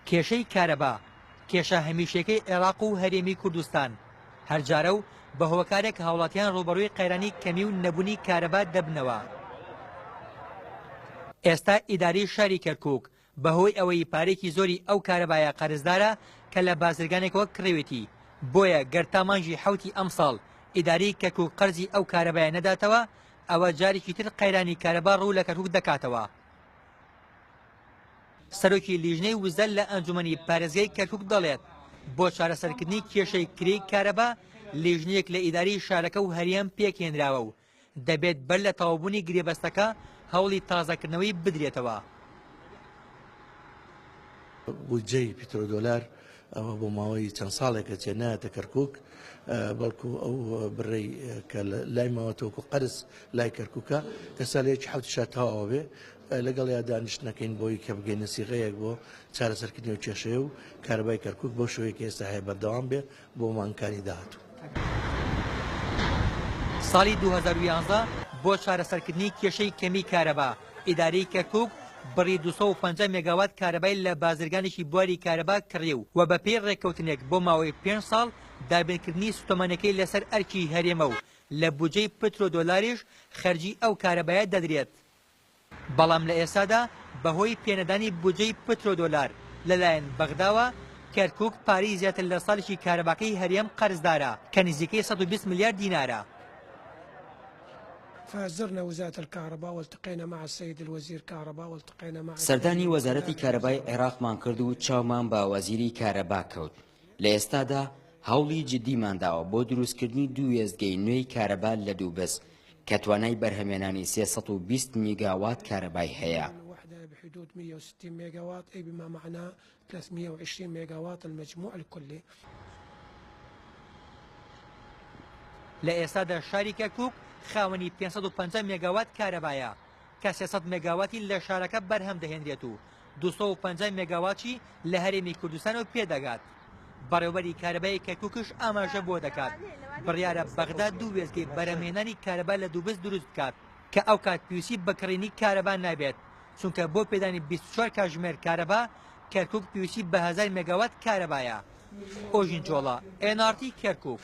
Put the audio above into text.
کێشەی کارەبا کێشە هەمیشەیەکەی عێراق و هەرێمی کوردستان هەرجارە و بە هۆکارێک هاوڵاتیان ڕووبەڕووی قەیرانی کەمی و نەبوونی کارەبا دەبنەوە. ئێستا ئیدارەی شاری کەرکووک بەهۆی ئەوەی پارەیەکی زۆری ئەو کارەبایە قەرزدارە کە لە بازرگانێکەوە کڕیوێتی، بۆیە گەر تا مانگی حەوتی ئەمساڵ ئیدارەی کەرکووک قەرزی ئەو کارەبایە نەداتەوە، ئەوە جارێکی تر قەیرانی کارەبا ڕوو لە کەرکووک دەکاتەوە. سەرۆکی لیژنەی وزە لە ئەنجومەنی پارێزگای کەرکک دەڵێت بۆ چارەسەرکردنی کێشەی کرێی کارەبا لیژنەیەک لە ئیداری شارەکە و هەریان پێکهێنراوە و دەبێت بەر لە تەوابوونی گرێبەستەکە هەوڵی تازەکردنەوەی بدرێتەوە. بودجەی پیترۆدۆلار ئەوە بۆ ماوەی چەند ساڵێکە چێ نایەتە کەرکک بەڵکو ئەو بڕێ کە لای ماوەتەوەکو قەرز لای کەرککە کە سالێکی حوت شاتاوە بێ لەگەڵ یا دانیشتەکەین بۆی کە بگەینە سیغەیەک بۆ چارەسەرکردنی و کێشەیە و کاربای کەرکک بۆ شوەیە کە ئێستا هەیە بەردەوام بێ بۆ مانکانی داهاتوو. ساڵی 2011 بۆ چارەسەرکردنی کێشەی کەمی کارەبا، ئیدارەی کەرکووک بڕی دوو سەد و پەنجا مێگاوات کارەبای لە بازرگانێکی بواری کارەبا کڕی و وە بەپێی ڕێککەوتنێک بۆ ماوەی پێنج ساڵ دابینکردنی سوتەمەنیەکەی لەسەر ئەرکی هەرێمە و لە بودجەی پترۆ دۆلاریش خەرجی ئەو کارەبایە دەدرێت بەڵام لە ئێستادا بەهۆی پێنەدانی بودجەی پترۆ دۆلار لەلایەن بەغداوە کەرکووک پارەی زیاتر لە ساڵێکی کارەباکەی هەرێم قەرزدارە کە نزیکەی سەد و بیست ملیار دینارە. فازرنا وزارة الكهرباء والتقينا مع السيد الوزير كهرباء والتقينا مع سەردانی وەزارەتی کارەبای عێراقمان کرد و چاومان بە وەزیری کارەبا کەوت لە ئێستادا هەوڵی جددیمان داوە بۆ دروستکردنی دوو وێستگەی نوێی کارەبا لە دووبز کە توانای بەرهەمێنانی سێ سەد و بیست میگاوات کارەبای هەیە. ثلاثمية وعشرين ميغاوات المجموع الكلي. لە ئێستادا شاری کەرکووک خاوەنی پێنج سەد و پەنجا مێگاوات کارەبایە کە سێ سەد مێگاواتی لە شارەکە بەرهەم دەهێنرێت و دوو سەد و پەنجا مێگاواتی لە هەرێمی کوردستانەوە پێدەگات. بەڕێوەبەری کارەبای کەرکووکش ئاماژە بەوە دەکات، بڕیارە بەغدا دوو وێستگەی بەرهەمهێنانی کارەبا لە دوبز دروست بکات، کە ئەو کات پێویستی بە کڕینی کارەبا نابێت. چونکە بۆ پێدانی بیست و چوار کاژمێر کارەبا، کەرکووک پێویستی بە هەزار مێگاوات کارەبایە. ئۆژین چۆڵە، ئێن ئاڕ تی، کەرکووک.